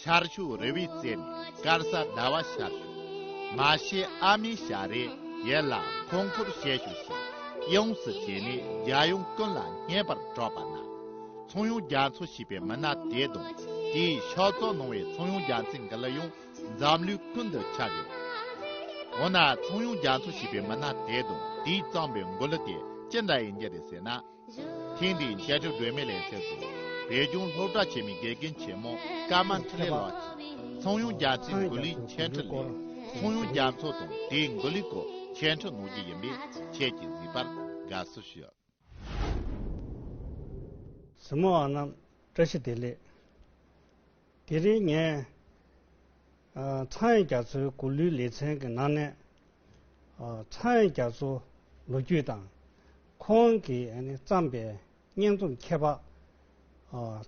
ཤར་ཕྱོགས་རི་བའི་རྩེ་ནས་དཀར་ས་ཟླ་བ་ཤར་བྱུང། མ་ཤེས་ཨ་མའི་ཞལ་རས་ཡལ་ལ་འཁོར་འཁོར་བྱེད་ཞོ་ཞེས་ཡོངས་སུ་བྱས་ནས་རྒྱལ་ཡོངས་ཀུན་ལ་སྙན་པར་སྒྲོག་པ་ན། ཚོང་ཡོང་རྒྱ་མཚོ་ཞེས་པའི་མི་སྣ་དེའི་གདོང་དེའི་ཕྱག་བཙོག་ནང་བའི་ཚོང་ཡོང་རྒྱ་མཚོའི་འགུལ་ལ་ཡང་འཛམ་གླིའི་ཀུན་ཏུ་ཁྱབ་ཡོད། འོ་ན་ཚོང་ཡོང་རྒྱ་མཚོ་ཞེས་པའི་མི་སྣ་དེའི་གདོང་དེའི་གཙང་པའི་འགུལ་ལུ་དེ་ཅི་འདྲ་ཡིན་རྒྱུ་རེད་ཟེར་ན། ཐེངས་འདིའི་མཇལ་འཕྲད་སྒྲོན་མེ་ལས་ཐད་དུ། བོད་ལྗོངས་སློབ་གྲྭ་ཆེན་མོའི་དགེ་རྒན་ཆེན་མོ་ཀརྨ་འཕྲིན་ལས་ལགས་ཀྱིས་ཚོང་གཡུང་རྒྱ་ཚིག་མགུར་གླུའི་མཆན་འཕྲི་ལས། ཚོང་གཡུང་རྒྱ་མཚོ་དང་དེའི་མགུར་གླུའི་སྐོར་མཆན་འཕྲི་གནང་རྒྱུ་ཡིན་པས་ཁྱེད་ཀྱིས་གཟིགས་པར་དགའ་བསུ་ཞུ། གཟིགས་མོ་བ་རྣམས་བཀྲ་ཤིས་བདེ་ལེགས། དེ་རིང་ངས། ཚངས་རྒྱ་མཚོའི་མགུར་གླུའི་ལེ་ཚན་གྱི་ནང་ནས། ཚངས་རྒྱ་མཚོ་ལོ་རྒྱུས་དང། ཁོང་གིས་བརྩམས་པའི་སྙན་རྩོམ་ཁྱད་འཕགས།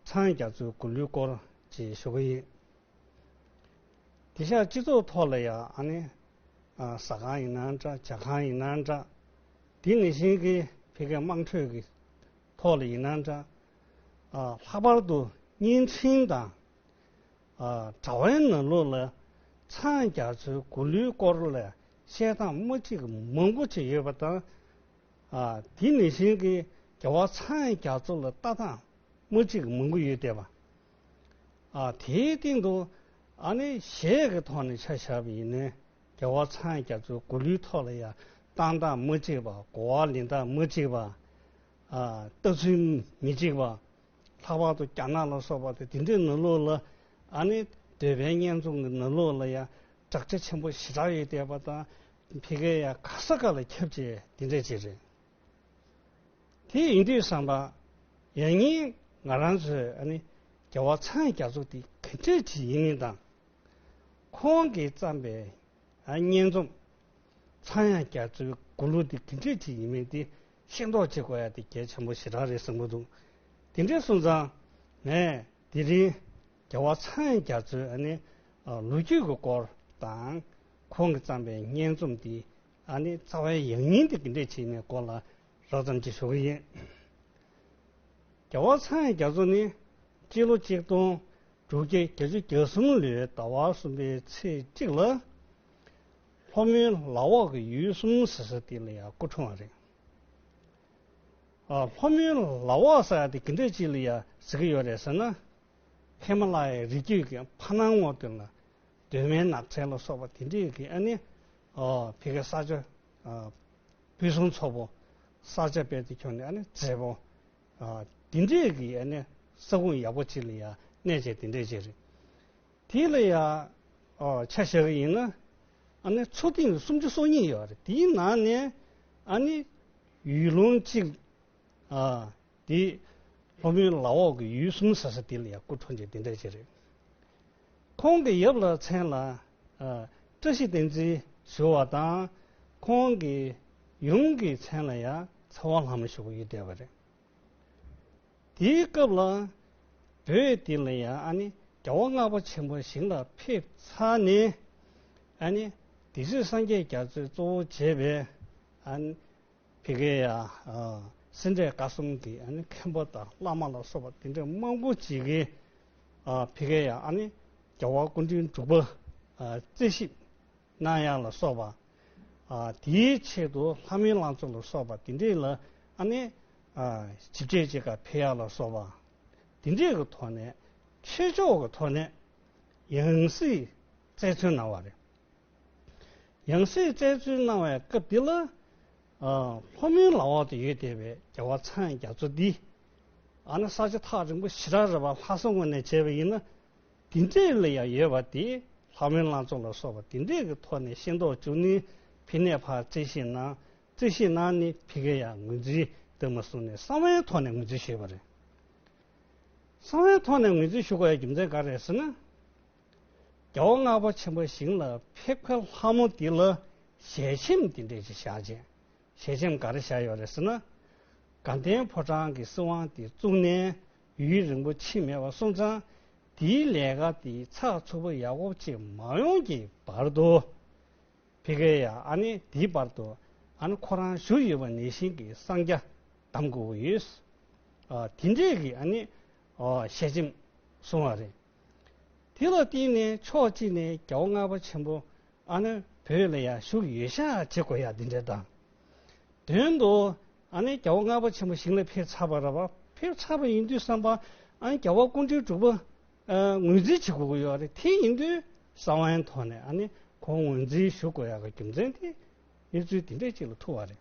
ཚངས་རྒྱ་མཚོའི་མགུར་གླུའི་སྐོར་བཅས་ཞུ་གི་ཡིན། དེ་ཤག་སྤྱི་ཚོགས་ཐོག་ལ་ཡང། ཟ་ཁང་ཡིན་ན་འདྲ་བྱ་ཁང་ཡིན་ན་འདྲ། དེ་ནི་བཞིན་གྱི་བྷི་གའི་དམངས་ཁྲོད་ཀྱི་ཐོག་ལ་ཡིན་ན་འདྲ། ལྷག་པར་དུ་བརྙན་འཕྲིན་དང་དྲ་བའི་ནང་ལུགས་ལ་འཚང་རྒྱ་ཚོའི་མགུར་གླུའི་སྐོར་ལ་བཤད་སྟངས་དམའ་འཁྲིད་མང་པོ་བྱས་ཡོད་པ་དང། དེ་ནི་གཞན་གྱི་རྒྱལ་བ་འཚང་རྒྱ་ཚོ་ལ་ལྟ་སྟངས་དམའ་འཁྲིད་མང་པོ་ཡོད་བསྡད་པ། དེའི་སྟེང་དུ་ཨ་ནེ་གཞས་ཀྱི་ཐོག་ནས་ཆ་བཞག་པ་ཡིན་ནའི་རྒྱལ་བ་འཚང་རྒྱ་ཚོའི་མགུར་གླུའི་ཐོག་ལ་ཡང་བཏང་སྟངས་དམའ་འཁྲིད་པ་གོ་བ་ལེན་སྟངས་དམའ་འཁྲིད་པ། ལྟ་ཚུལ་མི་གཅིག་པ། ལྷག་པར་དུ་རྒྱ་ནག་ལ་སོགས་པ་དེ་འདི་འདྲའི་ནོར་ལུག་ལ་ཨ་ནི་འདོད་པའི་བརྙན་བཟུང་གི་ནོར་ལུག་ལ་ཡང་དྲག་ཆ་ཆེན་པོ་ཞེ་དྲག་ཡོད་བསྡད་པ་དང་ཕི་ཀའི་ཡང་ག་ས་ག་ལ་ཁྱབ་ཅེས་འདི་འདྲའི་ཅིག་རེད། དེ་ཡིན་དུས་བསམ་པ། ཡང་སྙིང་ང་རང་ཚོས་ཨ་ནི་རྒྱལ་བ་ཚང་རྒྱ་མཚོ་དེ་ག་འདྲའི་ཅིག་ཡིན་མིན་དང། ཁོང་གིས་བརྩམས་པའི་བརྙན་རྩོམ། ཚང་ཡང་རྒྱ་མཚོའི་མགུར་གླུ་དེ་ག་འདྲའི་ཅིག་ཡིན་མིན་དེ་ཤིང་ཏོག་ཅེས་བསྐོར་ཡ་དེ་རྒྱལ་ཆེན་པོ་བཞི་དྲག་རེད་བསམ་གྱི་འདུག་དེ་འདྲའི་གསུང་ཙང་ངས་དེ་རིང་རྒྱལ་བ་ཚང་རྒྱ་མཚོའི་ཨ་ནི་ལོ་རྒྱུས་ཀྱི་སྐོར་དང། ཁོང་གིས་བརྩམས་པའི་སྙན་རྩོམ་འདི་ཨ་ནི་རྩ་བའི་ཡང་སྙིང་དེ་གི་འདྲ་བྱས་ནས་སྐོར་ལ་རགས་ཙམ་ཅིག་ཞུ་གི་ཡིན། རྒྱལ་བ་ཚང་རྒྱ་མཚོ་ནི་སྤྱི་ལོ་གཅིག་སྟོང་དྲུག་བརྒྱ་གྱ་བཅུ་གྱ་གསུམ་ལོའི་ཟླ་བ་གསུམ་པའི་ཚེས་གཅིག་ལ། ལྷོ་མོན་ལག་འོག་གི་ཡུལ་གསུམ་ཟེར་ས་དེ་ལ་ཡང་སྐུ་འཁྲུངས་བ་རེད། ལྷོ་མོན་ལག་འོག་ཟེར་བ་དེ་གི་འདྲ་ཅི་ལ་ཡང་ཟེར་གི་ཡོད་རེད་ཟེར་ན། ཧེ་མ་ལ་ཡའི་རི་རྒྱུད་ཀྱི་ཕ་སྣང་ངོགས་དེ་ལ་གདོད་མའི་ནགས་ཚལ་ལ་སོགས་པ་དེ་འདྲས་ཀྱི་ཨ་ནི་བྷི་ཀ་ས་ཆ། བྷི་སུང་མཚོ་བོ། ས་ཆ་དཔལ་དུ་ཁྱོན་ནི་ཨ་ནི་མཛེས་པོ། དེ་འདྲས་ཀྱི་ཨ་ནི་ས་ཁུངས་ཡག་པོ་ཅི་ལ་ཡང་གནས་བྱས་དེ་འདྲས་ཅི་རེད། དེ་ལ་ཡང་ཆ་བཞག་གི་ཡིན་ན། ཨ་ནི་མཚོ་གཏིང་ནི་སུམ་ཅུ་སོ་གཉིས་ཡོད་རེད། དེའི་ནང་ནས་ཨ་ནི་ཡུལ་ལུང་གཅིག། དེ་ལྷོ་མོན་ལ་འོག་གི་ཡུལ་གསུམ་ཟེར་ས་དེ་ལ་ཡང་སྐུ་ཕྲེང་ཅིག་དེ་འདྲ་ཅིག་རེད། ཁོང་གི་ཡབ་ལ་མཚན་ལ་བཀྲ་ཤིས་བསྟན་འཛིན་ཟེར་བ་དང། ཁོང་གི་ཡུམ་གྱི་མཚན་ལ་ཡང་ཚ་བ་ལྷ་མོ་ཞེས་པ་ཡོད་བསྡད་པ་རེད། དེའི་སྐབས་ལ་བོད་འདི་ལ་ཡང་རྒྱལ་བ་ལྔ་པ་ཆེན་པོ་ཞིང་ལ་ཕེབས་ཚར་ནས། དེ་ཚོས་སངས་རྒྱས་རྒྱ་མཚོའི་གཙོ་བོ་བྱས་པའི་བྷི་ཀ་ཡ། སེ་འབྲས་དཀར་གསུམ་གྱི་མཁན་པོ་དང་བླ་མ་ལ་སོགས་པ་དེ་འདྲ་མང་པོ་ཅིག་གིས་བྷི་ཀ་ཡ། རྒྱལ་བ་སྐུ་མགྲོན་འབྲུག་པ་རྩེ་གཤིབ། གནང་དབྱངས་ལ་སོགས་པ། དེའི་ཆེད་དུ་ལྷ་མིའི་བླང་ཚོགས་ལ་སོགས་པ་འདི་འདྲས་ལ་ནི། ཇི་སྐད་ཅེས་ཀར་བྷེ་ཡ་ལ་སོགས་པ། འདི་འདྲས་ཀྱི་ཐོག་ནས་ཆེ་མཆོག་གི་ཐོག་ནས་ཡང་སྲིད་བཙལ་འཚོལ་གནང་བ་རེད། ཡང་སྲིད་བཙལ་འཚོལ་གནང་བའི་སྐབས་འདི་ལ། ལྷོ་མོན་ལ་འོག་ཏུ་ཡོད་བསྡད་པའི་རྒྱལ་བ་ཚངས་རྒྱ་མཚོ་འདིས། ཨ་ནི་ས་བྱེ་ཐག་རིང་པོ་ཞི་ར་རི་བ་ལྷ་ས་ངོས་ནས་བྱས་པ་ཡིན་ན། དེ་འདྲའི་ལས་ཡང་ཡོད་པ་དེ་ལྷ་མོའི་བླ་མཚོ་ལ་སོགས་པ་དེ་འདྲའི་གི་ཐོག་ནས་ཤེས་མདོག་བཅུག་ནི་ཕི་ནས་ཕར་རྩེ་ཤེས་ན་རྩེ་ཤེས་ན་ནི་ཕི་གེ་ཡང་ངོས་འཛིན་དེ་མ་བཟུང་ནས་གསང་བའི་ཐོག་ནས་ངོས་འཛིན་ཞུས་པ་རེད། གསང་བའི་ཐོག་ནས་ངོས་འཛིན་ཞུ་དགོས་ཡའི་རྒྱུ་མཚན་ག་རེད་ཟེར་ན། རྒྱལ་བོ་སྔགས་པ་ཆེན་པོ་ཞིང་ལ་ཕེབས་ཁར་ལྷ་མོ་དེ་ལ་ཞལ་ཆེམས་དེ་འདྲས་ཅིག་བཞག་རྗེས་ཞལ་ཆེམས་ག་རེ་བཞག་ཡོད་རེད་ཟེར་ན། དགའ་ལྡན་ཕོ་བྲང་གི་སྲིད་དབང་དེ་བཙུགས་ནས་ཡུན་རིང་པོ་ཕྱིན་མེད་པར་སོང་ཙང། དེའི་ལས་ཀ་དེ་ཚགས་ཚུད་པོ་ཡག་པོ་བྱས་མ་ཡོང་གི་བར་དུ། བྷི་ཀེ་ཡ་ཨ་ནི་དེའི་བར་དུ་ཨ་ནི་ཁོ་རང་བཞུགས་ཡོད་པ་ནས་ཤིང་གི་སྲང་བརྒྱ་བསྡམ་དགོས་པོ་ཡོད། དེ་འདྲས་ཀྱིས་ཨ་ནི་ཞལ་ཆེམས་བཟུང་བ་རེད། དེ་ལ་བརྟེན་ནས་ཕྱོགས་གཅིག་ནས་རྒྱལ་བོ་ལྔ་པ་ཆེན་པོ་ཨ་ནི་བོད་ལ་ཡང་བཞུགས་ཡོད་ཤག་བྱེད་དགོས་ཡག་འདི་འདྲའི་དང། དོན་དུ་ཨ་ནི་རྒྱལ་བོ་ལྔ་པ་ཆེན་པོ་ཞིང་ལ་ཕེབས་ཚར་བ་ར་བ་ཕེབས་ཚར་བ་ཡིན་དུས་བསམ་པ་ཨ་ནི་རྒྱལ་བ་སྐུ་འཕྲེང་དྲུག་པ་ངོས་འཛིན་བྱེད་དགོས་ཀྱི་ཡོད་རེད་དེ་ཡིན་དུས་ས་བོན་ཐོག་ནས་ཨ་ནི་ཁོང་ངོས་འཛིན་ཞུ་དགོས་ཡག་གི་རྒྱུ་མཚན་དེ་གནས་ཚུལ་འདི་འདྲའི་ཅིག་ལ་ཐུག་བ་རེད།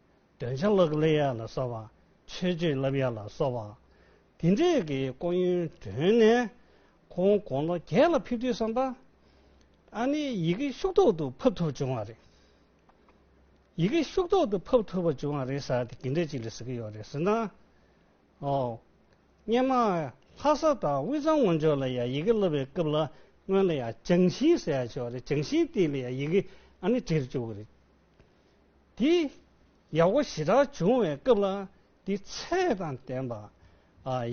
འདོན་ཆ་ལག་ལེན་ཡར་ལ་གསར་བ། ཆོས་བྱེད་རླབས་ཡར་ལ་གསར་བ། འདི་འདྲའི་གི་ཀོ་ཡོན་བསྒྲོན་ནས། ཁོང་དགོང་ལོ་བརྒྱད་ལ་ཕེབས་དུས་བསམ་པ། ཨ་ནི་ཡི་གེ་ཤུགས་ཐོག་ཏུ་ཕབ་ཐུབ་བྱུང་བ་རེད། ཡི་གེ་ཤུགས་ཐོག་ཏུ་ཕབ་ཐུབ་པ་བྱུང་བ་རེད་ཟེར་ཏེ་གི་འདྲ་ཅིག་ལ་ཟེར་གི་ཡོད་རེད་ཟེར་ན། ཨོ། སྙེ་མ་ལྷ་ས་དང་དབུས་གཙང་སྔོན་ཆོག་ལ་ཡང་ཡི་གེ་བསླབ་པའི་སྐབས་ལ་སྔོན་ལ་ཡང་བྱང་ཤིང་ཟེར་ཡང་བྱུང་བ་རེད་བྱང་ཤིང་སྟེང་ལ་ཡང་ཡི་གེ་ཨ་ནི་བྲིས་བཅུག་གི་རེད། དེ་ཡག་པོ་ཞེ་དྲག་བྱུང་བའི་སྐབས་ལ་དེ་ཚད་དང་ལྡན་པ།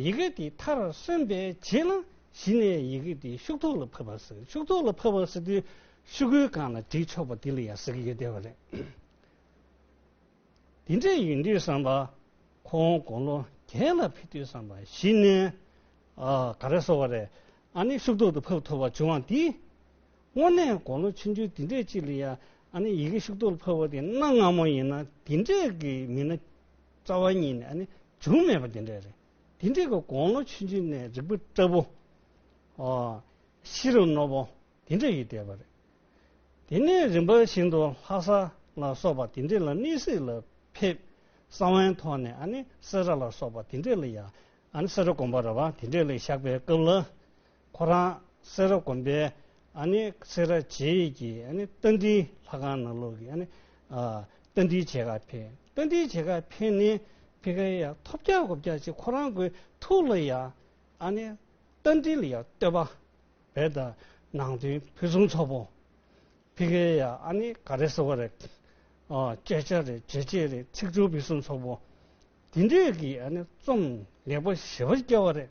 ཡི་གེ་དེ་མཐར་སོན་པའི་རྗེས་ལ་གཞི་ནས་ཡི་གེ་དེ་ཤུགས་ཐོག་ལ་ཕབ་པ་ཟེར་ཤུགས་ཐོག་ལ་ཕབ་པ་ཟེར་དུས་ཤུགས་ཀུན་གང་ལ་བྲིས་ཆོག་པ་དེ་ལ་ཡང་ཟེར་གྱི་ཡོད་བསྡད་པ་རེད། དེ་འདྲ་ཡིན་དུས་བསམ་པ། ཁོང་དགུང་ལོ་རྒྱས་ལ་ཕེབས་དུས་བསམ་པ་གཞི་ནས་ག་རེ་བཟོ་བ་རེད་ཨ་ནི་ཤུགས་ཐོག་ཏུ་ཕབ་ཐུབ་པ་བྱུང་བ་འདིས་དངོས་གནས་དགོང་ལོ་ཆུང་ཆུང་འདི་འདྲས་ཅིག་ལ་ཡང་ཨ་ནི་ཡི་གེ་ཤུག་ཏུ་ཕབ་བ་དེ་གནའ་སྔ་མོ་ཡིན་ན་འདི་འདྲས་ཀྱི་མི་སྣ་རྩ་བ་ཉིད་ནས་ཨ་ནི་བྱུང་མེད་པ་འདི་འདྲས་རེད། འདི་འདྲས་ཀྱི་དགོང་ལོ་ཆུང་ཆུང་ནས་རིག་པ་བཀྲ་བོ། ཨོ། ཤི་རུ་རྣོ་བོ་འདི་འདྲས་ཡོད་བསྡད་པ་རེད། དེ་ནས་རིམ་པ་བཞིན་དུ་ལྷ་ས་ལ་སོགས་པ་འདི་འདྲས་ལ་གནས་གཟིགས་ལ་ཕེབས། ས་བོན་ཐོག་ནས་ཨ་ནི་སེ་ར་ལ་སོགས་པ་འདི་འདྲས་ལ་ཡང་ཨ་ནི་སེ་ར་དགོན་པ་ར་བ་འདི་འདྲས་ལ་བཞག་པའི་སྐབས་ལ་ཁོ་རང་སེ་ར་དགོན་པའི་སེ་ར་བྱེས་ཡིད་ཀྱི་རྟ་མགྲིན་ལྷ་ཁང་ནང་ལོགས་ཀྱི་རྟ་མགྲིན་བྱེ་ཁ་འཕེན། རྟ་མགྲིན་བྱེ་ཁ་འཕེན་ནས་ཕེ་ཁ་ཡ་ཐོབ་རྒྱག་དགོ་རྒྱག་ཅིག་ཁོ་རང་གི་ཐུགས་ལ་ཡ། རྟ་མགྲིན་ལ་ཡ་བསྟོད་པ་བས་ད་ནང་དོན་ཕུན་སུམ་ཚོགས་པོ། ཕེ་ཁ་ཡ་ག་རེ་ཟེར་བ་རེད། སྐད་ཆ་རེད་བརྗོད་བྱེད་རེད་ཚིག་སྦྱོར་ཕུན་སུམ་ཚོགས་པོ། དེ་འདྲས་ཀྱི་རྩོམ་ལེགས་པོ་ཞེ་པར་སྐྱེལ་བ་རེད།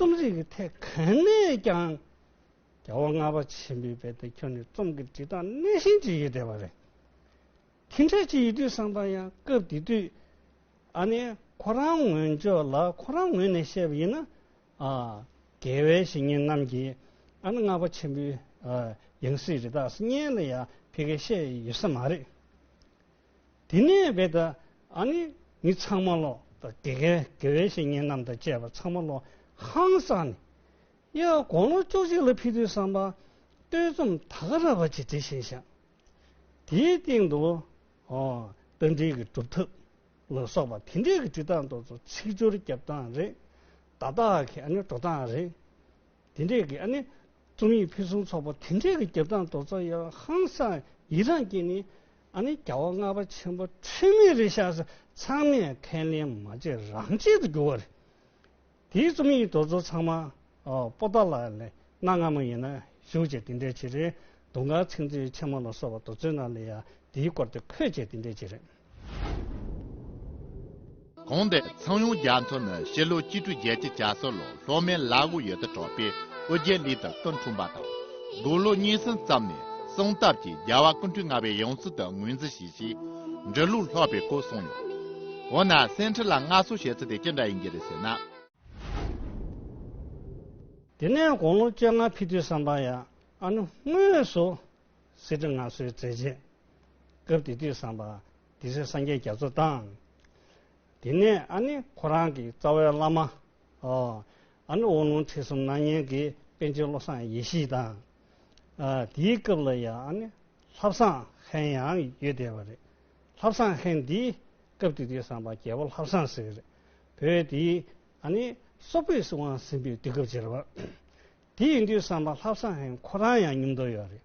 རྩོམ་རིག་གི་ཐད་གང་ནས་ཀྱང་རྒྱལ་བ་ལྔ་པ་ཆེན་པོའི་དཔལ་དུ་ཁྱོན་ནས་རྩོམ་གྱི་འབྲི་སྟངས་སྣེ་ཤན་གཅིག་ཡོད་བསྡད་པ་རེད། ཁྱིམ་བྱ་གཅིག་ཡོད་དུས་བསམ་པ་ཡང་སྐབས་དེ་དུས་ཨ་ནེ་ཁོ་རང་ངོས་ཇོ་ལ་ཁོ་རང་ངོས་ནས་བཤད་པ་ཡིན་ན། རྒྱལ་བའི་བཤེས་གཉེན་རྣམས་ཀྱིས་ཨ་ནེ་ལྔ་པ་ཆེན་པོའི་ཡང་སྲིད་རི་དྭགས་སྙན་ལ་ཡང་ཕི་གེ་བཤད་ཡོད་ས་མ་རེད། དེ་ནས་བས་ཏེ་ཨ་ནི་མི་ཚང་མ་ལོ་དང་དེ་གའི་དགེ་བའི་བཤེས་གཉེན་རྣམས་དང་བཅས་པ་ཚང་མ་ལོ་ཧང་སང་ནས། དབྱར་དགུང་ལོ་བཅུ་གཅིག་ལ་ཕི་དུས་སམ་པ་སྟོད་རྩོམ་ད་ག་ར་བ་ཅི་དེ་བཞིན་བཞག། དེའི་སྟེང་དུ། རྟ་མགྲིན་གྱི་སྒྲུབ་ཐབས་ལ་སོགས་པ་དེ་འདྲའི་གི་བྲིས་སྟངས་ཏོག་ཙོ་ཚིག་སྦྱོར་རྒྱབ་སྟངས་རེད། བརྡ་དག་གི་ཨ་ནི་འགྲོ་སྟངས་རེད། དེ་འདྲའི་གི་ཨ་ནི་རྩོམ་ཡིག་ཕུན་སུམ་ཚོགས་པ་དེ་འདྲའི་གི་རྒྱབ་སྟངས་ཏོག་ཙོ་ཡང་ཧང་སང་ཡི་རངས་ཀྱིས་ནི་ཨ་ནི་རྒྱལ་བ་ལྔ་པ་ཆེན་པོ་འཕྲིན་ལས་རི་ཤག་སྲས་ཚང་མས་ཁས་ལེན་མ་བྱས་རང་བྱེད་དུ་གྱུར་བ་རེད། དེའི་རྩོམ་ཡིག་རྡོ་ཚོ་ཚང་མ་པོ་ཏཱ་ལ་ལའི་གནའ་སྔ་མོ་ཡིན་ན་བཞུགས་བྱས་དེ་འདྲའི་བྱེད་རེད་འདུག་འགའ་ཚིག་མཛོད་ཆེན་མོ་ལ་སོགས་པ་རྡོ་ཚོའི་ནང་ལས་ཡང་དེའི་སྐོར་དེ་འཁོད་བྱས་དེ་འདྲའི་བྱེད་རེད། གོང་འདི་ཚང་ཡོངས་རྒྱ་མཚོ་ནི་ཕྱི་ལོ་སྐྱིད་སྤྲུལ་རྒྱལ་གྱི་བྱ་སོ་ལོ་ལྷོ་མའི་བླ་དབུ་ཡོད་དུ་གྲགས་པའི་ཨོ་རྒྱན་ལི་ཐི་ཀུན་འཁྲུངས་པ་དང། དགུང་ལོ་གཉིས་ཟིན་ཙམ་ནས་གསང་སྟབས་ཀྱིས་རྒྱལ་བ་ཀུན་འཁྲུལ་ལྔ་པའི་ཡང་སྲིད་དུ་ངོས་འཛིན་བྱས་ཞེས་འབྲི་ལུགས་ལྷག་པའི་སྐོར་གསུངས་ཡོད། འོ་ན་སེང་ཁྲི་ལ་མངའ་གསོལ་བྱེད་ཚུལ་དེ་ཅི་འདྲ་ཡིན་གྱི་རེད་ཟེར་ན། དེ་ནས་དགུང་ལོ་བཅོ་ལྔ་ཕི་དུས་སམ་བྷ་ཡ་ཨ་ནུ་དངོས་སུ་སེ་ཁྲི་མངའ་གསོལ་མཛད་རྗེས། སྐབས་དེ་དུས་སམ་བྷ། དེ་སྲིད་སངས་རྒྱས་རྒྱ་མཚོ་དང། དེ་ནས་ཨ་ནི་ཁོ་རང་གི་རྩ་བའི་བླ་མ། ཨ་ནི་དབང་ལུང་ཁྲིད་གསུམ་སྣང་བརྙན་གྱི་དཔེ་འབྱེད་བློ་བཟང་ཡེ་ཤེས་དང། དེའི་སྐབས་ལ་ཡང་ཨ་ནི་ལྷ་བཟང་ཧན་ཡང་ཡོད་བསྡད་པ་རེད། ལྷ་བཟང་ཧན་འདིས་སྐབས་དེ་དུས་བཟང་པ་རྒྱལ་པོ་ལྷ་བཟང་ཟེར་གྱི་རེད། བོད་དེ་ཨ་ནི་སོག་པོའི་སྲིད་དབང་ཟིན་པའི་དུས་སྐབས་རྗེས་རེད་པ། དེ་ཡིན་དུས་བཟང་པ་ལྷ་བཟང་ཧན་ཁོ་རང་ཡང་ཉུང་མདོག་ཡོད་རེད།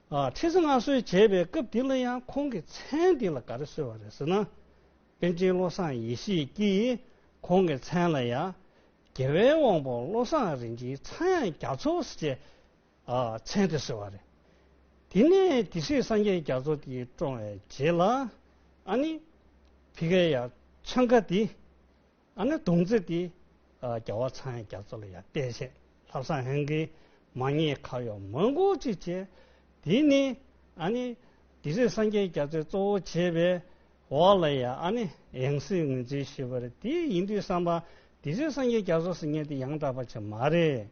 ཁྲི་སྲིང་མངའ་གསོལ་བྱས་པའི་སྐབས་དེ་ལ་ཡང་ཁོང་གིས་མཚན་དེ་ལ་ག་རེ་གསོལ་བ་རེད་ཟེར་ན། པཎ་ཆེན་བློ་བཟང་ཡེ་ཤེས་ཀྱིས་ཁོང་གི་མཚན་ལ་ཡང། རྒྱལ་བའི་དབང་པོ་བློ་བཟང་རིན་ཆེན་ཚངས་དབྱངས་རྒྱ་མཚོ་ཟེར་བྱའི། མཚན་དེ་གསོལ་བ་རེད། དེ་ནས་དེ་སྲིད་སངས་རྒྱས་རྒྱ་མཚོ་དེ་བཀྲོངས་བའི་རྗེས་ལ། ཨ་ནི། བྷི་ཀ་ཡ། ཆང་ཁ་དེ། ཨ་ནེ་དུང་རྩེ་ཏི། རྒྱལ་བ་ཚངས་རྒྱ་མཚོ་ལ་ཡང་བལྟས་བྱས། ལྷ་བཟང་ཧན་གིས་མ་ཉེས་ཁ་ཡོག་མང་པོ་ཅི་བྱས། དེ་ནི་ཨ་ནེ། དེ་རིང་སངས་རྒྱས་རྒྱ་མཚོའི་གཙོ་བོ་བྱས་པའི་འོག་ལ་ཡང་ཨ་ནེ་ཡང་སྲིད་ངོས་འཛིན་ཞུས་པར་དེ་ཡིན་དུས་བསམ་པ། དེ་རིང་སངས་རྒྱས་རྒྱ་མཚོ་སྲིད་ཉན་དེ་ཡང་དག་པ་བྱེད་མ་རེད།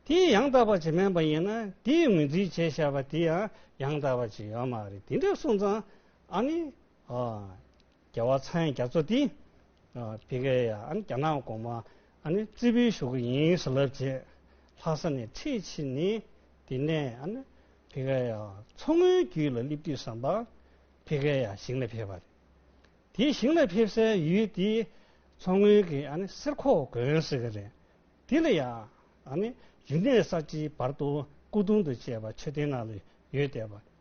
དེ་ཡང་དག་པ་བྱེད་སྨན་པ་ཡིན་ན་དེ་ཡི་ངོས་འཛིན་བྱས་བཞག་པ་དེ་ཡང་ཡང་དག་པ་བྱེད་ཡོད་མ་རེད་དེ་འདྲའི་གསུང་ཙང་ཨ་ནེ། རྒྱལ་བ་ཚངས་རྒྱ་མཚོ་འདི། བི་ཀ་ཡ་ཨན་རྒྱ་ནག་གོང་མ་ཨན་རྩིས་འབུལ་ཞུ་གི་ཡིན་ཟེར་ལབ་རྗེས་ལྷ་ས་ནས་འཁྲིད་ཕྱིན་ནས་དེ་ནས་ཨན་བི་ཀ་ཡ་མཚོ་སྔོན་རྒྱུད་ལ་སླེབས་དུས་ཟམ་པ་བི་ཀ་ཡ་ཞིང་ལ་ཕེབས་པ་རེད། དེ་ཞིང་ལ་ཕེབས་སའི་ཡུལ་དེ་མཚོ་སྔོན་གྱི་ཨན་གསེར་ཁོག་དགོན་ཟེར་གི་རེད། དེ་ལ་ཡ་ཨན་རི་གནས་གསར་བརྗེའི་བར་དུ་སྐུ་གདུང་དང་བཅས་པ་མཆོད་རྟེན་ནང་ལ་ཡོད་བསྡད་པ་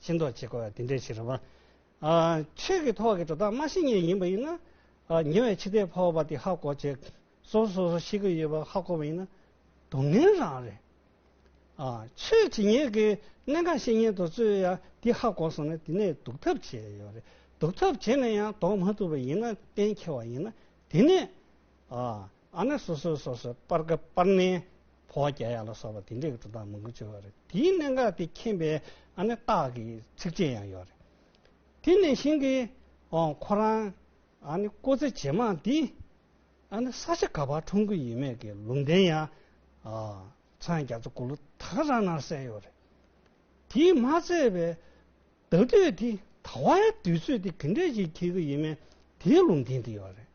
ཕྱིན་རྟོགས་བྱེད་དགོས་པ་དེ་འདྲའི་ཕྱིར་རོ། ཆོས་ཀྱི་ཐོག་གི་འགྲོ་སྟངས་མ་ཤེས་ངེས་ཡིན་པ་ཡིན་ན། ཉེ་བའི་འཆི་ལྟས་འཕོ་བ་དེ་ཧ་གོ་བྱེད། སོ་སོ་སོ་སོ་ཤེས་ཀྱི་ཡོད་པ་ཧ་གོ་བ་ཡིན་ན་སྡུག་བསྔལ་རང་རེད། ཆོས་ཇི་སྙེད་ཀྱི་གནད་འགག་ཤེས་ཉེན་དུ་རྩོད་ཡང་དེ་ཧ་གོ་སོང་ན་དེ་ནས་སྡུག་ཐབས་བྱེད་ཡོད་རེད། སྡུག་ཐབས་བྱས་ནས་ཡང་ལྡོག་མ་ཐུབ་པ་ཡིན་ན་གཏན་འཁེལ་བ་ཡིན་ན་དེ་ནས་ཨ་ནི་སོ་སོའི་སོ་སོའི་སྤར་ཀ་སྤར་ནས་བོ་བརྒྱ་ཡ་ལ་སོགས་པ་དེ་འདྲའི་སྒྲུབ་སྟངས་མང་པོ་སྤྱོད་པ་རེད། དེའི་གནད་འགག་དེ་མཁྱེན་པའི་ཨ་ནི་རྟགས་ཀྱི་ཚིགས་བཅད་ཡང་ཡོད་རེད། དེ་ནས་བཞིན་གྱི་ཁོ་རང་ཨ་ནི་སྐོ་ཚེ་ཇེ་མང་འདི་ཨ་ནི་ས་ཆ་ག་བར་འཁྲུངས་གི་ཡིན་མེད་ཀྱི་ལུང་བསྟན་ཡང་ཚང་རྒྱ་མཚོ་དགུ་ལོ་དག་རང་ན་གསལ་ཡོད་རེད། དེས་མ་ཚད་པའི། ད་ལྟའི་དེ་ད་བ་ཡ་དུས་ཚོད་དེ་གི་འདྲ་ཞིག་འཁྱེར་གི་ཡིན་མེད་དེའི་ལུང་འདི་འདི་ཡོད་རེད།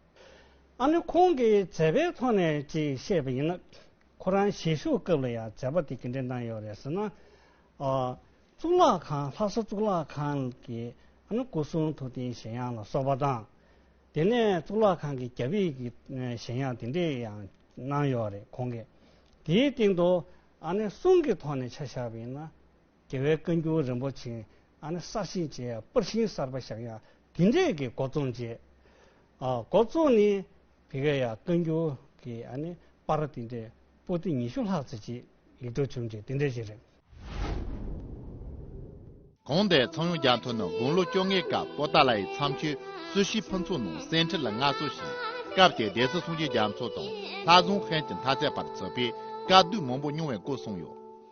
ཨ་ནི་ཁོང་གིས་མཛད་པའི་ཐོག་ནས་ཅིག་བཤད་པ་ཡིན་ན། ཁོ་རང་ཞལ་བཞུགས་སྐབས་ལ་ཡང་མཛད་པ་དེ་གི་འདྲ་གནང་ཡོད་རེད་ཟེར་ན། གཙུག་ལག་ཁང་ལྷ་ས་གཙུག་ལག་ཁང་གི་ཨ་ནི་སྐུ་གསུང་ཐུགས་རྟེན་གཞན་ཡང་ལ་སོགས་པ་དང། དེ་ནས་གཙུག་ལག་ཁང་གི་རྒྱབ་ཡིག་གི་གཞན་ཡང་དེ་འདྲས་ཡང་གནང་ཡོད་རེད་ཁོང་གིས་དེའི་སྟེང་དུ་ཨ་ནི་གསུང་གི་ཐོག་ནས་ཆ་བཞག་པ་ཡིན་ན། རྒྱལ་བའི་བཀའ་འགྱུར་རིན་པོ་ཆེ། ཨ་ནི་གསར་བཞེངས་བྱས་ཡང་པར་ཤིང་གསར་པ་བཞག་ཡང་དེ་འདྲས་ཀྱི་སྒོ་རྩོམ་བྱས། སྒོ་རྩོམ་ནི་དེ་ག་ཡང་བཀའ་འགྱུར་གྱི་ཨ་ནི་པར་དེ་འདྲས་པོ་ཏི་ཉི་ཤུ་ལྷག་ཙི་ཅིག་ཡིག་འབྲུ་ཆུང་ཆུང་དེ་འདྲས་ཤིག་རེད། གོང་དེ་ཚང་ཡོངས་རྒྱ་མཐོ་ནི་དགུང་ལོ་བཅོ་ལྔའི་སྐབས་པོ་ཏཱ་ལ་ཡི་མཚམས་ཆོས་གསོལ་ཞིབ་ཕུན་ཚོགས་ནང་གསན་འཕྲིན་ལ་མངའ་གསོལ་ཞིང་སྐབས་དེའི་སྡེ་སྲིད་སུང་ཅི་རྒྱ་མཚོ་དང་ལྷ་བཟང་ཧན་གྱི་མཐའ་ཚད་པར་བརྩི་བས་བཀའ་བསྡུས་མང་པོ་མྱོང་བའི་སྐོར་གསུངས་ཡོད།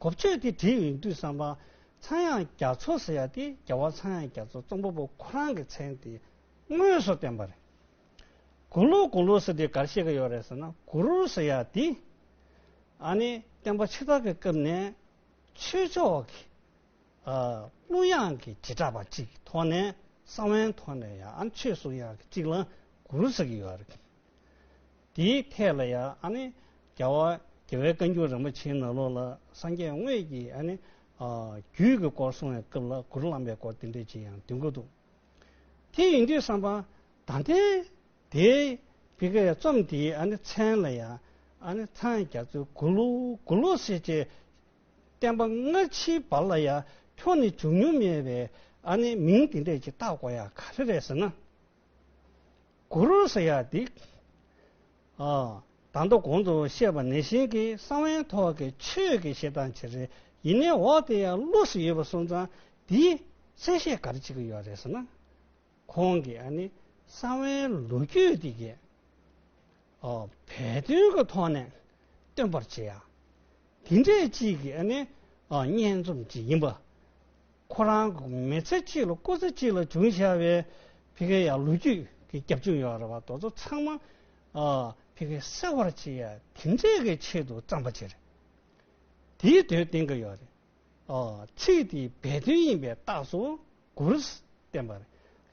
གོ་ཆོད་དེ་དེ་ཡིན་དུས་བསམ་པ། ཚངས་དབྱངས་རྒྱ་མཚོ་ཟེར་ཡ་དེ་རྒྱལ་བ་ཚངས་དབྱངས་རྒྱ་མཚོ་རྩོམ་པ་པོ་ཁོ་རང་གི་མཚན་དེ་དངོས་སུ་བསྟན་པ་རེད། གུ་ལུ་དགུང་ལོ་ཟེར་དེ་གར་ཤེས་ཀྱི་ཡོད་རེད་ཟེར་ན་གུ་རུ་ཟེར་ཡ་དེ། ཨ་ནི་བསྟན་པ་ཕྱི་དར་གྱི་སྐབས་ནས་ཆོས་ཕྱོགས་ཀྱི་གླུ་དབྱངས་ཀྱི་བྱེ་བྲག་པ་གཅིག་གི་ཐོག་ནས་ས་བོན་ཐོག་ནས་ཡང་ཆོས་གསུང་དབྱངས་ཀྱི་གཅིག་ལ་གུ་རུ་ཟེར་གྱི་ཡོད་རེད། དེའི་ཐད་ལ་ཡང་རྒྱ་བ་རྒྱལ་བའི་བཀའ་འགྱུར་རིན་པོ་ཆེའི་ནང་ལོགས་ལ་སངས་རྒྱས་དངོས་ཀྱི་རྒྱུད་ཀྱི་སྐོར་གསུང་བའི་སྐབས་ལ་གུ་རུ་བླ་མའི་སྐོར་བསྟན་འགྲེལ་གྱི་ཡང་དོན་གོ་འདུག་དེ་ཡིན་དུས་བསམ་པ་ད་ལྟའི་དེའི་བི་ཀ་ཡའི་རྩོམ་དེའི་མཚན་ལ་ཡང་ཚངས་རྒྱ་མཚོའི་གུ་ལུ་གུ་ལུ་སེ་བཅས་བསྟན་པ་སྔ་ཕྱིའི་བར་ལ་ཡང་ཁྱོད་ནི་བྱུང་མྱོང་མེད་པའི་མིང་དེ་འདྲས་ཀྱིས་བཏགས་དགོས་ཡ་ག་རེ་རེད་ཟེར་ན་གུ་རུ་སེ་ཡ་སྡིག། དང་དུ་གོང་དུ་བཤད་པ་ནས་བཞིན་གྱི་གསང་བའི་ཐོག་གི་ཆོས་ཀྱི་ཞེ་སྡང་བྱེད་རེ་ཡིན་ནའི་འོག་དེ་ཡང་བླུགས་སུ་ཡོད་པ་སོང་ཙང་དེའི་ཚེ་བཤད་གར་ཅིག་ཡོད་རེད་ཟེར་ན། ཁོང་གི་ཨ་ནི་གསང་བའི་ལོ་རྒྱུས་འདི་གས་བལ་དོན་གྱི་ཐོག་ནས་སྟོན་པར་བྱེད་ཡ། དེ་འདྲས་ཅིག་གི་ཨ་ནི་སྙན་རྩོམ་ཅིག་ཡིན་པ། ཁོ་རང་མི་ཚེ་གཅིག་ལ་སྐུ་ཚེ་གཅིག་ལ་བྱུང་ཞེས་པའི་ཕི་ཁེ་ཡག་ལོ་རྒྱུས་ཀྱི་རྒྱབ་ལྗོངས་ཡོད་རེད་བ་དོ་ཚོ་ཚང་མ་ཕི་ཁེ་གསལ་བར་བྱེད་ཡ་དེ་འདྲས་ཀྱི་ཆེད་དུ་བརྩམས་པ་ཅིག་རེད། དེའི་དོན་བསྟན་གྱི་ཡོད་རེད། ཚིག་དེའི་སྦས་དོན་ཡིན་པའི་རྟགས་སུ་གུ་རུས་བསྟན་པ་རེད།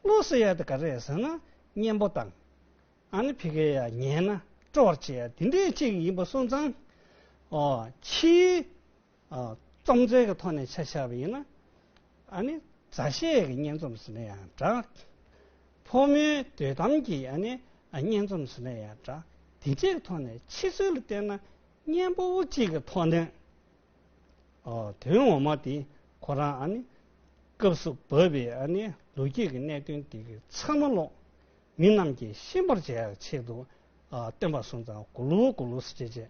བློ་གསལ་ཡག་དེ་ག་རེད་ཟེར་ན་གཉེན་པོ་དང། ཨ་ནི་ཕི་ཁེ་ཡག་ཉན་ན་སྤྲོ་བར་བྱེད་ཡ་དེ་འདྲས་ཅིག་ཡིན་པ་སོང་ཙང། ཕྱིའི་སྟོང་རྩལ་གྱི་ཐོག་ནས་ཆ་བཞག་པ་ཡིན་ན། ཨ་ནི་མཛའ་བཤེས་ཀྱི་སྙན་རྩོམ་ཟེར་ན་ཡང་འདྲ། ཕོ་མོའི་འདོད་གཏམ་གྱི་ཨ་ནི་སྙན་རྩོམ་ཟེར་ན་ཡང་འདྲ། དེ་འདྲའི་ཐོག་ནས་ཕྱི་ཚུལ་ལ་བལྟས་ན་སྙན་པོ་བོ་གཅིག་གི་ཐོག་ནས། དོན་ངོ་མ་དེ་ཁོ་རང་ཨ་ནི་སྐབས་སུ་བབས་པའི་ཨ་ནི་ལོ་རྒྱུས་ཀྱི་གནད་དོན་དེ་གི་ཚང་མ་ཀློག་མི་རྣམས་ཀྱིས་ཤེས་པར་བྱ་ཡག་ཆེད་དུ་སྟོན་པ་སོང་ཙང་གུ་ལུ་གུ་ལུ་ཟེར་བྱས།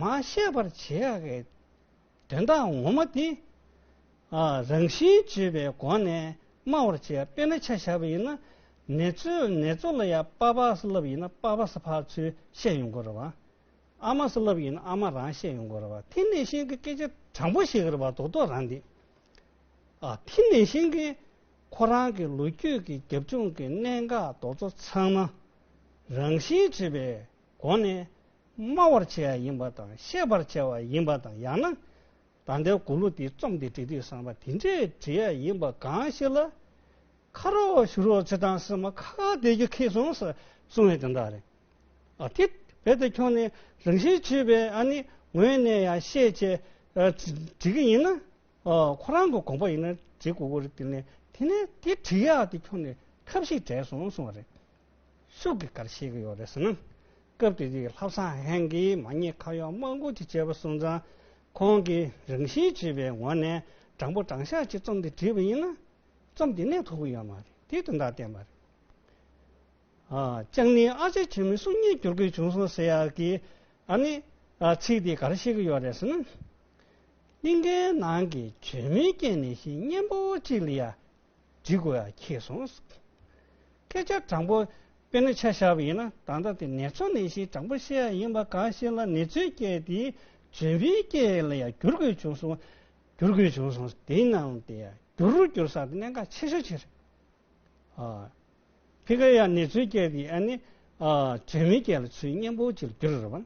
མ་ཤེས་པར་བྱེད་ཡ་གི་དོན་དག་ངོ་མ་དེ། རང་བཞིན་བརྗོད་པའི་སྒོ་ནས་སྨྲ་བར་བྱེད་དཔེར་ན་ཆ་བཞག་པ་ཡིན་ན། ནེ་ཙོ་ལ་ཡང་པ་པ་སི་ལབ་ཡིན་ན་པ་པ་སི་ཕར་ཚུར་བཤད་ཡོང་དགོས་རེད་བ། ཨ་མ་སི་ལབ་ཡིན་ན་ཨ་མ་རང་བཤད་ཡོང་དགོས་རེད་བ། དེ་ནེ་ཤིང་གི་སྐད་ཆ་དྲང་པོ་ཞིག་རེད་བ་དོག་དོག་རང་འདི། དེ་ནེ་ཤིང་གི་ཁོ་རང་གི་ལོ་རྒྱུས་ཀྱི་རྒྱབ་ལྗོངས་ཀྱི་གནད་འགག་རྡོག་རྩ་ཚང་མ་རང་བཞིན་བརྗོད་པའི་དགོངས་ནས། སྨྲ་བར་བྱ་བ་ཡིན་པ་དང་བཤད་པར་བྱ་བ་ཡིན་པ་དང་ཡང་ན། ད་ལྟའི་མགུར་གླུ་འདི་རྩོམ་འདི་བྲིས་དུས་བསམ་པ་དེ་འདྲའི་བྲིས་ཡ་ཡིན་པ་གང་ཞིག་ལ། ཁ་རོག་ཞུ་རོག་བྱེད་སྟངས་སེམས་མ་ཁ་ཁ་བདེ་རྒྱུ་ཁེགས་སོང་ཟེར་གསུང་བའི་དོན་དག་རེད། ཨ་ཐི། རྦད་དེ་ཁྱོད་ནི་རང་བཞིན་ཆོས་པའི་ཨ་ནི་ངོས་ནས་ཡང་ཤེས་ཆེ། བྲིས་ཀྱི་ཡིན་ན། ཁོ་རང་གི་དགོངས་པ་ཡིན་ན་བྲིས་དགོས་ཀྱི་རེད་དེ་ནས་དེ་ནས་དེ་བྲིས་ཡ་དེ་ཁྱོད་ནས་ཁབ་ཞིག་བྲལ་སོང་གསུང་བ་རེད། སུ་གི་གར་བཤད་ཀྱི་ཡོད་རེད་ཟེར་ན། སྐབས་དེ་དུས་ཀྱི་ལྷ་བཟང་ཧན་གྱིས་མ་ཉེས་ཁ་གཡོག་དམག་འགུག་ཅིག་བྱས་པ་སོང་ཙང། ཁོང་གིས་རང་བཞིན་བྱིས་པའི་ངོ་ནས་དྲང་པོ་དྲང་ཤག་ཅིག་རྩོམ་འདི་བྲིས་པ་ཡིན་ན། རྩོམ་འདི་གནད་ཐུག་གི་ཡོད་མ་རེད་དེ་དོན་དག་བསྟན་པ་རེད། ཅང་ནི་ཨ་ཅག་ཆེན་མོའི་གསུང་སྙན་བསྒྱུར་དགོས་བྱུང་སོང་ཟེར་ཡ་གི། ཨ་ནི། ཚིག་འདི་གར་བཤད་ཀྱི་ཡོད་རེད་ཟེར་ན། གླིང་གའི་ནང་གི་བྱོལ་མོའི་རྐྱེན་ནི་ཤིང་གཉན་པོ་ཅིག་ལ་ཡ། འབྲི་དགོས་ཡ་ཁྱེད་སོང། སྐད་ཆ་དྲང་པོ། དཔེར་ན་ཆ་བཞག་པ་ཡིན་ན་ད་ལྟ་དེ་ནེ་ཚོ་ནེ་ཞེས་དྲང་པོ་བཤད་ཡ་ཡིན་པ་གང་ཞིག་ལ་ནེ་ཚོའི་སྐད་དེ་ཇོན་པའི་སྐད་ལ་ཡ་བསྒྱུར་དགོས་བྱུང་སོང། བསྒྱུར་དགོས་བྱུང་སོང་དེ་ན་ལ་དེ་ཡ་བསྒྱུར་རུ་བསྒྱུར་ས་དེ་གནད་འགག་ཆེ་ཤོས་ཆེ་རེད། ཨ། ཕི་ཀ་ཡ་ནེ་ཚོའི་སྐད་དེ་ཨ་ནི་ཨ་ཇོན་པའི་སྐད་ལ་ཚུལ་སྙན་པོ་ཅིག་ལ་བསྒྱུར་རུ་རེད་བ།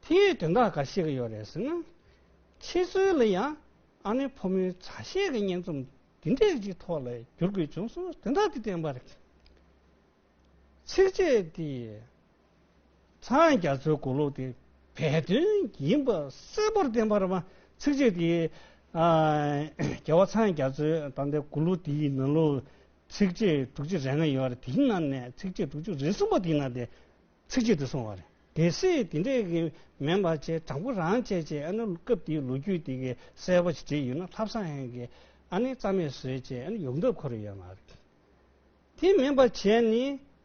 དེ་ཡོད་དོན་དག་ག་ཞིག་ཡོད་རེད་ཟེར་ན། ཁྱེད་ཚོའི་ལ་ཡང་ཨ་ནེ་ཕོ་མོའི་མཛའ་བཤེས་ཀྱི་སྙན་རྩོམ་འདི་འདྲའི་ཅིག་ཐོག་ལ་བསྒྱུར་དགོས་བྱུང་སོང་དོན་དག་འདི་བསྟན་པར། ཚིགས་བཅད་འདི་ཚང་རྒྱ་མཚོའི་མགུར་གླུ་དེ་བས་དོན་ཡིན་པ་གསལ་པོར་བསྟན་པར་མ་ཚིགས་བཅད་འདི། རྒྱལ་བ་ཚང་རྒྱ་མཚོའི་ད་ལྟའི་མགུར་གླུ་དེའི་ནང་ལོ་ཚིགས་བཅད་དྲུག་ཅུ་རེ་ལྔ་ཡོད་རེད་དེའི་ནང་ནས་ཚིགས་བཅད་དྲུག་ཅུ་རེ་གསུམ་པ་དེའི་ནང་དེ་ཚིག་གཅིག་ཏུ་སོང་བ་རེད། གལ་སྲིད་དེ་འདྲས་ཀྱི་མེད་མ་བྱས་དྲང་པོ་རང་བྱས་ཅེས་ཨ་ནུ་སྐབས་དེའི་ལོ་རྒྱུས་དེ་གའི་གསལ་བོ་ཞིག་བྲིས་ཡོད་ན་ལྷ་བཟང་ཧན་གྱིས་ཨ་ནི་རྩ་མེད་བཟོས་ཅེས་ཨ་ནི་ཡོང་འདོད་ཁོ་རེ་ཡོད་མ་རེད། དེ་མིན་པ་བྱས་ནི་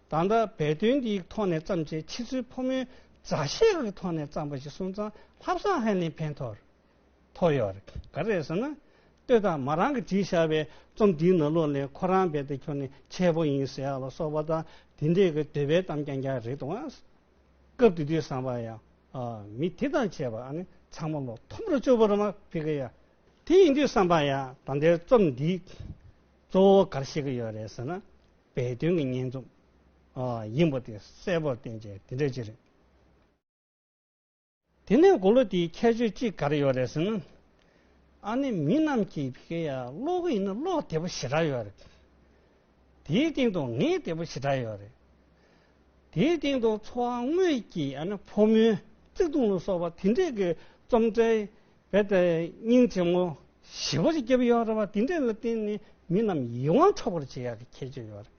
ད་ལྟ་བལ་དོན་གྱི་ཐོག་ནས་བརྩམས་ཆེད་ཕྱི་ཚུལ་ཕོ་མོའི་མཛའ་གཞས་ཀྱི་ཐོག་ནས་བརྩམས་པ་ཞིག་སོང་ཙང་ལྷ་བཟང་ཧན་ནི་ཕན་ཐོགས་རེད། ཐོག་ཡོད་རེད། ག་རེད་ཟེར་ན། ལྟོས་དང་མ་རང་གིས་བྲིས་བཞག་པའི་རྩོམ་འདིའི་ནང་ལོགས་ནས་ཁོ་རང་རྦད་དེ་ཁྱོད་ནི་འཆལ་པོ་ཡིན་ཟེར་ཡག་ལ་སོགས་པ་དང་དེ་འདྲའི་གི་འདོད་པའི་གཏམ་རྐྱང་རྐྱང་རེད་འདུག་ཨང། སྐབས་དེ་དུས་བསམ་པར་ཡང། ཨ། མི་དེ་དང་བཅས་པ་ཨ་ནི་ཚང་མ་ལོ་མཐོན་པོར་སྤྱོད་པོ་རེད་མ་ཕི་གི་ཡ། དེ་ཡིན་དུས་བསམ་པར་ཡང་ད་ལྟའི་རྩོམ་འདིས་གཙོ་བོ་གར་བཤད་གི་ཡོད་རེད་ཟེར་ན། སྦས་དོན་གི་སྙན་རྩོམ། ཡིན་པོ་དེ་གསལ་པོར་བསྟན་རྗེས་དེ་འདྲ་ཅིག་རེད། དེ་ནས་མགོ་ལོག་དེའི་ཁྱད་ཆོས་ཅི་ག་རེ་ཡོད་རེད་ཟེར་ན། ཨ་ནེ་མི་རྣམས་ཀྱིས་བྷི་ཁེ་ཡ་གློག་འོད་ཡིན་ན་གློག་དལ་པོ་ཞེ་དྲག་ཡོད་རེད། དེའི་སྟེང་དུ་ངད་དལ་པོ་ཞེ་དྲག་ཡོད་རེད། དེའི་སྟེང་དུ་འཚོ་བ་དངོས་ཀྱི་ཨ་ནེ་ཕོ་མོའི་བརྩེ་དུང་ལ་སོགས་པ་དེ་འདྲས་ཀྱི་རྩོམ་འབྲིའི་སྙིང་ཆེན་མོ་ཞིབ་པར་བརྒྱབ་ཡོད་རེད་བ་དེ་འདྲས་ལ་བརྟེན་ནས་མི་རྣམས་ཡིད་དབང་འཕྲོག་པར་བྱེད་ཡག་གི་ཁྱད་ཆོས་ཡོད་རེད།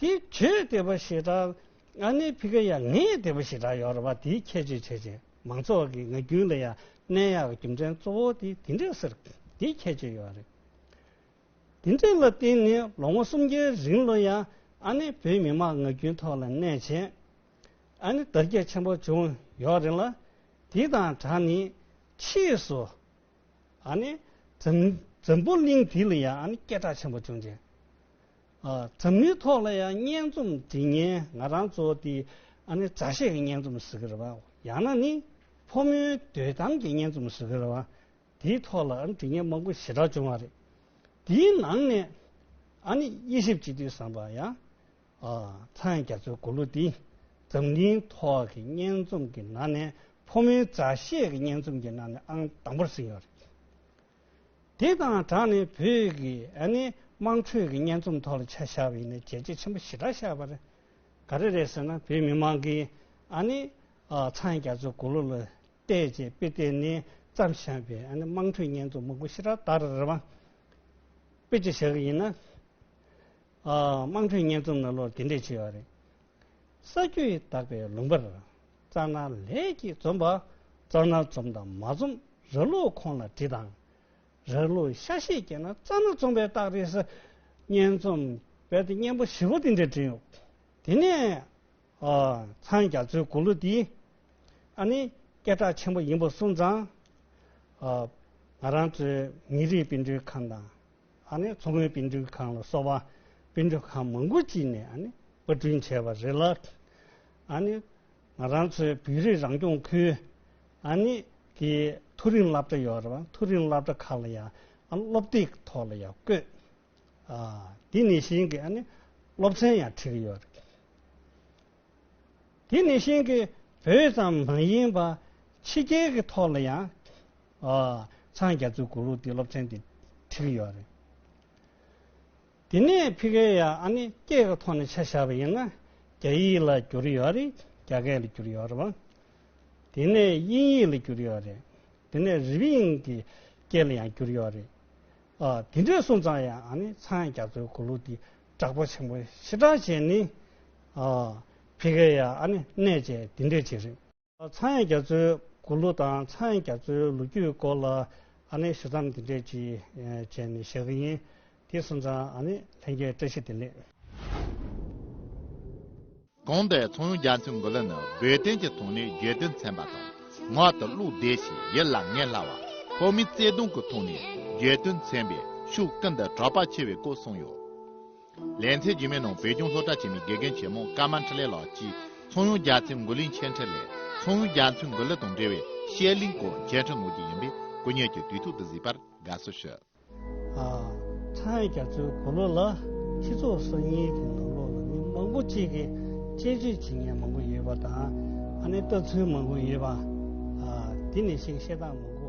དེ་ཁྱོས་དེ་བ་ཞེ་དྲག་ཨ་ནེ་ཕི་ཁ་ཡ་ངས་དེ་བ་ཞེ་དྲག་ཡོ་ར་བ་དེའི་ཁྱད་ཆོས་བྱས་བྱས་མང་ཚོགས་ཀྱི་ང་རྒྱུན་ལ་ཡ་ནེ་ཡག་རྒྱུ་མཚན་གཙོ་བོ་དེ་དེ་འདྲས་ཟེར་དེའི་ཁྱད་ཆོས་ཡོ་རེད་དེ་འདྲས་ལ་བརྟེན་ནས་ལོ་ངོ་སུམ་བརྒྱའི་རིང་ལོ་ཡ་ཨ་ནེ་བོད་མི་མང་ང་རྒྱུན་ཐོག་ལ་ནས་བྱས་ཨ་ནེ་དར་རྒྱས་ཆེན་པོ་བྱུང་ཡོ་རེད་ལ་དེ་དང་དྲག་ནས་ཕྱིས་སུ་ཨ་ནེ་འཛམ་བུ་གླིང་དེ་ལ་ཡ་ཨ་ནེ་སྐད་གྲགས་ཆེན་པོ་བྱུང་རྗེས། འཛམ་གླིང་ཐོག་ལ་ཡང་སྙན་རྩོམ་འབྲི་མཁན་ང་རང་ཚོ་སྟེ། ཨ་ནི་མཛའ་བཤེས་ཀྱི་སྙན་རྩོམ་ཟེར་གི་རེད་པ། ཡང་ན་ནི་ཕོ་མོའི་འདོད་གཏམ་གྱི་སྙན་རྩོམ་ཟེར་གི་རེད་པ། དེའི་ཐོག་ལ་ཨ་ནི་འབྲི་མཁན་མང་པོ་ཞེ་དྲག་བྱུང་བ་རེད། དེའི་ནང་ནས་ཨ་ནི་དབྱེ་ཞིབ་བྱེད་དུས་བསམ་པ་ཡང། ཚངས་རྒྱ་མཚོའི་མགུར་གླུ་འདི་འཛམ་གླིང་ཐོག་གི་སྙན་རྩོམ་གྱི་ནང་ནས་ཕོ་མོའི་མཛའ་བཤེས་ཀྱི་སྙན་རྩོམ་གྱི་ནང་ནས་ཨང་དང་པོར་ཟིན་ཡོད་རེད། དེ་དང་སྦྲགས་ནས་བོད་ཀྱི་དམངས་ཁྲོད་ཀྱི་སྙན་རྩོམ་ཐོག་ལ་ཆ་བཞག་པའི་ནས་བརྗེད་རྗེས་ཆེན་པོ་ཞེ་དྲག་བཞག་པ་རེད། ག་རེ་རེད་ཟེར་ན་བོད་མི་མང་གིས་ཚང་རྒྱ་མཚོ་གུ་ལུ་ལ་བལྟས་རྗེས་དཔེ་ལྟས་ནས་བརྩམས་བཞག་པའི་དམངས་ཁྲོད་སྙན་རྩོམ་མང་པོ་ཞེ་དྲག་དར་རེད། དཔེ་ཅིག་བཞག་གི་ཡིན་ན། དམངས་ཁྲོད་སྙན་རྩོམ་ནང་ལོ་དེ་འདྲས་བྱས་པ་རེད། ས་རྒྱུ་ཡི་དག་པའི་ལུང་པར། རྩ་སྣ་ལས་ཀྱིས་འཛོམས་པ། རྩ་སྣ་འཛོམས་དང་མ་འཛོམས་ར་ལུག་ཁོང་ལ་དྲི་དང། ར་ལུག་ཤ་ཤེད་སྐྱེས་ན་རྩ་སྣ་འཛོམས་པའི་རྟགས་རེད། གཉན་འཛོམས་བལ་དེ་གཉན་པོ་བཞི་བོ་འདི་འདྲའི་དྲི་ཡོད། དེ་ནས། ཚངས་རྒྱ་མཚོའི་མགུར་གླུ་འདི། ཨ་ནི། སྐད་གྲགས་ཆེན་པོ་ཡིན་པོ་གསུངས་ཙང། ང་རང་ཚོའི་མི་རིགས་སྤུན་གྲོའི་ཁམས་དང། ཨ་ནི་མཚོ་སྔོན་དཔེ་འབྲུག་ཁང་ལ་སོགས་པ་དཔེ་འབྲུག་ཁང་མང་པོ་ཅིག་ནས་ཨ་ནི་པར་སྐྲུན་བྱས་པ་རེད་ལ། ཨ་ནི་ང་རང་ཚོའི་བོད་རིགས་རང་སྐྱོང་ཁུལ་ཨ་ནི་གི་མཐོ་རིམ་སླབ་གྲྭ་ཡོད་རེད་བ་མཐོ་རིམ་སླབ་གྲྭ་ཁག་ལ་ཡང་ཨ་ནི་སློབ་དེབ་ཐོག་ལ་ཡང་བཀོད། དེ་ནས་བཞིན་གི་ཨ་ནི་སློབ་ཚན་ཡང་ཁྲིད་ཀྱི་ཡོད་རེད། དེ་ནི་ཤིང་གི་བུ་ཙམ་མ་ཡིན་པར་ཕྱི་རྒྱལ་གྱི་ཐོག་ལ་ཡང་ཚང་རྒྱ་མཚོའི་གུ་རུ་དེ་སློབ་ཚན་དེ་བྲིས་ཡོད་རེད། དེ་ནས་ཕི་ཀེ་ཡ་ཨ་ནི་སྐད་ཀྱི་ཐོག་ནས་ཆ་བཞག་པ་ཡིན་ན་རྒྱ་ཡིག་ལ་བསྒྱུར་ཡོད་རེད་རྒྱ་སྐད་ལ་བསྒྱུར་ཡོད་རེད། དེ་ནས་དབྱིན་ཡིག་ལ་བསྒྱུར་ཡོད་རེད། དེ་ནས་རི་བིང་གི་སྐད་ལ་ཡང་བསྒྱུར་ཡོད་རེད། དེ་འདྲའི་སོང་ཙང་ཡང་ཨ་ནི་ཚང་རྒྱ་མཚོའི་གུ་རུ་དེ་གྲགས་པ་ཆེན་པོ་ཕྱི་དྲང་ཅན་ནི། བྷི་ཀ་ཡ་ཨ་ནི་གནས་བཅས་འདི་འདྲས་བྱེད་རིགས། ཚངས་དབྱངས་རྒྱ་མཚོའི་མགུར་གླུ་དང་ཚངས་དབྱངས་རྒྱ་མཚོའི་ལོ་རྒྱུས་སྐོར་ལ་ཨ་ནི་ཞུ་མཚམས་འདི་འདྲས་ཀྱིས་བཅད་ནས་བཞག་གི་ཡིན། དེ་གསུམ་ཚང་ཨ་ནི་ལྷན་རྒྱས་བཀྲ་ཤིས་བདེ་ལེགས། གོང་དུ་ཚོང་ཡོན་རྒྱ་མཚོའི་མགུར་གླུ་ནི་བོད་དོན་གྱི་དོན་གནད་རྒྱུད་དོན་ཚན་པ་དང་ངག་ཏུ་བླུགས་བསྡད་ཞིང་ཡིད་ལ་ངེས་སླ་བ། བོད་མིའི་བརྩེ་དུང་གི་དོན་གནད་རྒྱུད་དོན་ཚན་པས་ཤུགས་ཀུན་ཏུ་གྲགས་པ་ཆེ་བའི་སྐོར་གསུངས་ཡོད། ལན་ཚྭའི་རྒྱུད་མའི་ནང་བོད་ལྗོངས་སློབ་གྲྭ་ཆེན་མོའི་དགེ་རྒན་ཆེན་མོ་ཀརྨ་འཕྲིན་ལས་ལགས་ཀྱིས་ཚོང་ཡོན་རྒྱ་མཚོའི་མགུར་གླུའི་མཆན་འཕྲིན་ལས་ཚོང་ཡོན་རྒྱ་མཚོའི་མགུར་གླུ་དང་འབྲེལ་བའི་བཤད་གླིང་སྐོར་མཆན་འཕྲིན་ནོར་གྱི་ཡིན་པས་སྐུ་ཉིད་ཀྱིས་དུས་ཐུག་ཏུ་གཟིགས་པར་དགའ་བསུ་ཞུ། ཚང་རྒྱ་མཚོའི་གོ་ལོ་ལ་སྤྱི་ཚོགས་གསར་རྙིང་གི་ནང་ལོགས་ལ་མི་མང་པོ་གཅིག་གིས་དཔྱད་བརྗོད་བྱེད་མཁན་མང་པོ་ཡོད་པ་དང་ཨ་ནེ་ལྟ་ཚུལ་མང་པོ་ཡོད་པ། འདི་ནས་ཤིག་བཤད་སྟངས་མང་པོ།